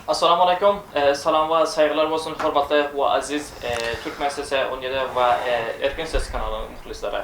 Assalamu Aleykum, Salam we Saýgylar bolsun hormatly we Aziz Türkmen sesi on ýedi we Erkin ses kanalynyň muhlislary.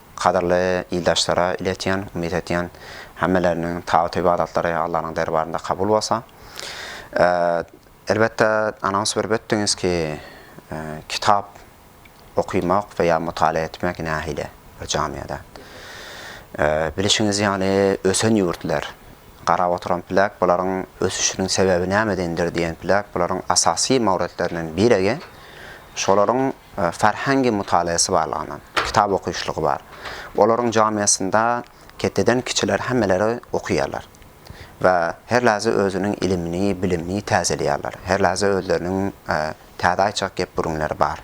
Gadyrly ildaşlara iletýän, umyt edýän hemmeleriniň tagat ybadatlary Allanyň derbarynda kabul bolsa. Elbetde anons berip ötdiňiz ki kitap okymak we ýa mutala etmek nähili bir jamiada. Bilişiňiz ýaly ösen ýurtlar, garap oturan plak bularyň ösüşiniň sebebi nämedendir diýen plak bularyň asasy mawretlerinden biregi şolaryň Farhangy mutalaýasy barlygyna, kitap okyşlygy bar. Olaryň jamiasynda ketdeden kiçiler hemmeleri okuýarlar. We her lahza özüniň ilimini, bilimini täzeleýärler. Her lahza özleriniň täze aýtjak gep-gürünleri bar.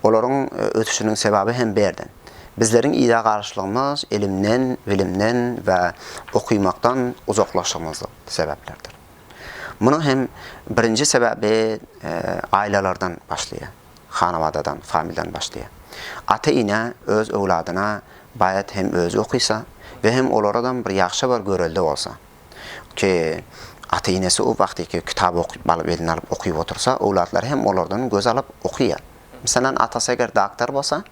Olaryň ösüşiniň sebabi hem bu ýerden. Bizleriň yza galyşlygymyz ilimden, bilimden we okymakdan uzaklaşygymyzdyr sebäplerdir. Munuň hem birinji sebäbi ailelerden başlaýar. Hanawadadan, familiýadan başlaýar. Ata-ene öz öwladyna baýat hem özi okysa we hem olaradam bir ýagşy bir görelde bolsa. Ki ata-enesi o wagtyky kitap okyp alyp eline alyp okyp otursa, öwlatlary hem olardan göz alyp okyýar. Meselem atasy eger doktor bolsa,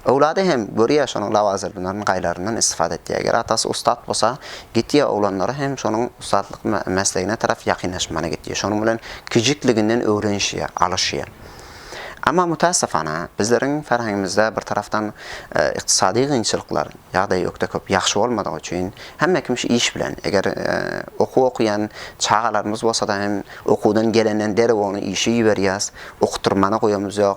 Öwlady hem görýä şonuň lawazyrdylaryny gaýlaryndan istifada etýä. Eger atasy ussat bolsa gitýä oglanlary hem şonuň ussatlyk meslegine tarap ýakynlaşmana gitýä. Şonuň bilen kijikliginden öwrenişýä, alyşýa. Amma mütässefana bizleriň ferhengimizde bir tarafdan ykdysady gynçylyklar, ýagdaý ökde köp ýagşy bolmadygy üçin hemme kim şu iş bilen eger okuw okuýan çagalarymyz bolsada hem okuwdan gelenden derrew ony işe iberýäs, okutyrmana goýamyz ýok.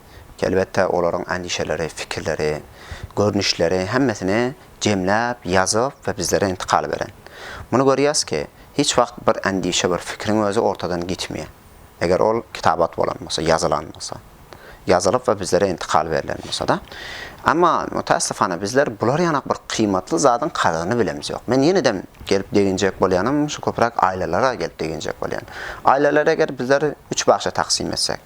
Elbetde, olaryň endişeleri, pikirleri, görnüşleri hemmesini jemläp, ýazyp we bizlere intikal beren. Muny görýäs ki, hiç wagt bir endişe, bir pikiriň özi ortadan gitmeýär. Eger ol kitabat bolan bolsa, ýazylan bolsa. Ýazylyp we bizlere intikal berlen bolsa-da. Emma, mütässifana, bizler bular ýanak bir kyýmatly zadyň kadyryny bilemz ýok. Men ýene-dem gelip deginjek bolýanym, şu köpräk aýlalara gelip deginjek bolýan. Aýlalary eger bizler üç bagşa taksym etsek.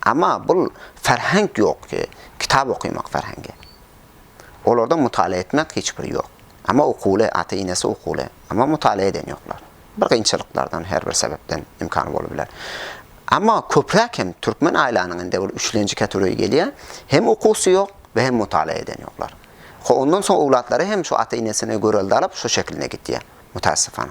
Amma bul ferhenk ýok ki, kitap okymak ferhengi. Olarda mutala etmek hiç bir ýok. Amma okuwly, ata enesi okuwly, amma mutala eden ýoklar. Bir gynçylyklardan her bir sebepden imkany bolubiler. Amma köpräk hem türkmen aýlanyň indi bul üçlenji kategoriýa gelýä, hem okuwsy ýok we hem mutala eden ýoklar. Ho ondan soň owlatlary hem şu ata enesine görelde alyp şu şekilne gitýä, mutasyfana.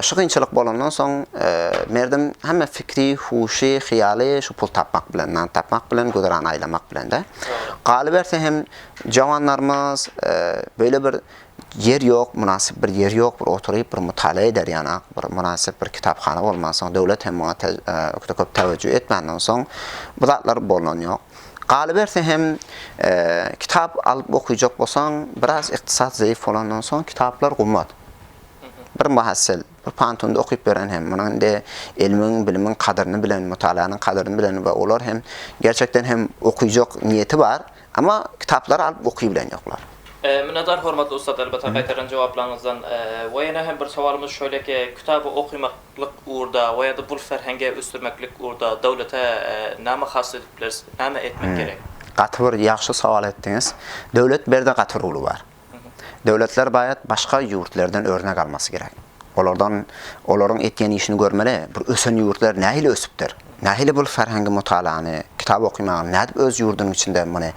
Şu kynçylyk bolandan soň, Merdim hemme fikri, huşy, hyýaly şu pul tapmak bilen, nan tapmak bilen, güzeran aýlamak bilen-de. Galyberse hem, jawanlarymyz beýle bir ýer ýok, mynasyp bir ýer ýok, bir oturyp, bir mutala eder ýana, bir mynasyp bir kitaphana bolmansoň, döwlet hem muňa juda köp täwejjuh etmänden soň, bu zatlar bolan ýok. Galyberse hem, kitap alyp okyjak bolsaň, biraz ykdysat zeýif bolandan soň, kitaplar gymmat. Bir muhassyl, bir pantuny okyp beren hem, munuň indi ilmiň, bilimiň kadyryny bilen, mutalanyň kadyryny bilen we olar hem gerçekden hem okyjak niýeti bar, emma kitaplary alyp oky bilen ýoklar. Minnetdar hormatly ussat elbetde gaýtarylan jogaplaryňyzdan. We ýene hem bir sowalymyz şöyleki, kitaby okymaklyk ugurda we ýa-da bul ferhengi ösdürmeklik ugurda döwlete näme has edip bileris, näme etmek gerek? Gaty bir ýagşy sowal etdiňiz. Döwlet berde gaty roly bar. Döwletler baýat başga ýurtlerden örnek almasy gerek. Olardan olaryň etýän işini görmeli. Bir ösen ýurtlar nähili ösüpdir? Nähili bul ferhengi mutalany, kitap okymagy nädip öz ýurdunyň içinde muny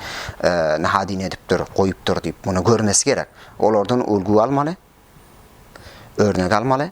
nahadini edipdir, goýupdyr diýip muny görmesi gerek. Olardan ulgy almaly. Örnek almaly.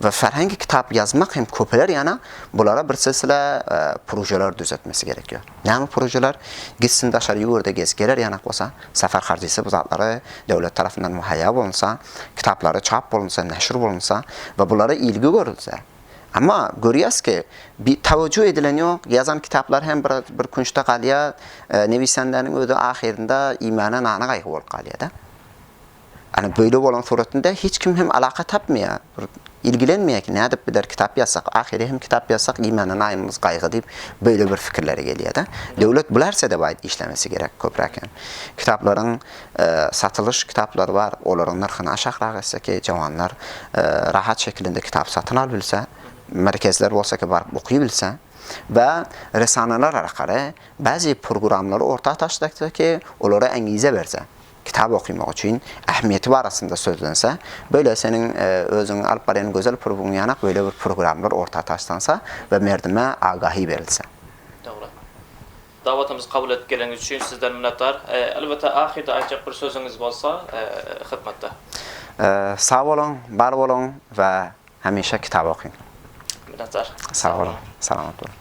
we ferhengi kitap ýazmak hem köpeler ýana bulara bir silsile projeler düzetmesi gerek ýa. Näme projeler? Gitsin daşary ýurda gez geler ýanak bolsa, safar harjysy bu zatlary döwlet tarapyndan muhaýýa bolunsa, kitaplary çap bolunsa, neşir bolunsa we bulara ilgi görülse. Emma görýäs ki, bi tawejju edilen ýok, ýazan kitaplar hem bir bir künçde galýa, newisandäniň özi ahyrynda iýmäne nana gaýgy bolup galýa-da. Ana böyle bolan suratynda hiç kim hem alaka tapmaya, bir ilgilenmeye ki nädip bider kitap ýazsak, ahyry hem kitap ýazsak iýmäne naýymyz gaýgy diýip böyle bir fikirlere gelýädä. Döwlet bu närsede baý işlemesi gerek köpräk hem. Kitaplaryň satylyş kitaplary bar, olaryň nyrhyny aşakrak etse ki jawanlar rahat şekilinde kitap satyn al bilse, merkezler bolsa ki baryp oky bilse we resanalar arkaly bazi purguramlary orta taşlakda ki olara äňize berse. Kitap okymak üçin ähmiýeti barasynda sözlense, böle seniň özüň alyp barýan gözel purybyň ýanak böle bir purgramlar orta taşlansa we merdime agahi berilse. Dogry. Dawatymyzy kabul edip geleniňiz üçin sizden minnetdar. Elbetde ahyrda aýtjak bir sözüňiz bolsa hytmatda. Sag boluň, bar boluň we Hemişe kitap okyň. Minnetdar. Sag boluň. Salamat boluň.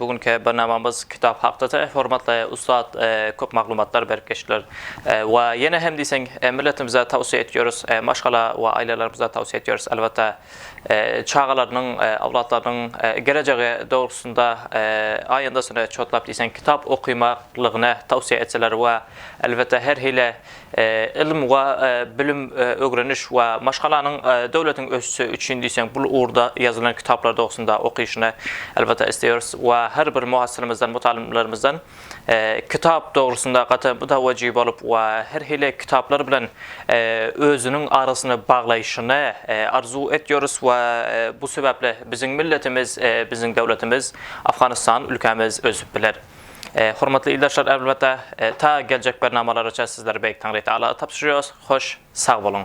Bu günki barnamamyz kitap hakdada. Hormatly ussat köp maglumatlar berip geçdiler. We ýene hem diýseň milletimize towsiýe etýoris, maşgala we ailelerimize towsiýe etýoris elbetde çagalarynyň, owlatlarynyň gelejegi dogrusynda aýandasyny çotlap diýseň kitap okymaklygyny towsiýe etseler we elbetde her hili Ylym we bilim, ögreniş we maşgalanyň döwletiň ösüşi üçin diýseň bu ugurda ýazylan kitaplar dogrusynda okyşyny elbetde isleýäris we her bir muhasyrymyzdan, mutgalymlarymyzdan kitap dogrusynda gaty mütewejji bolup we her hili kitaplar bilen özüniň arasyny baglaýşyny arzuw etýäris we bu sebäpli biziň milletimiz, biziň döwletimiz Afganystan ülkämiz ösüp biler. Hormatly ildeşler elbetde ta geljek bernamalaraça sizleri Beýik Taňry Tagala tabşyrýarys. Hoş sag boluň.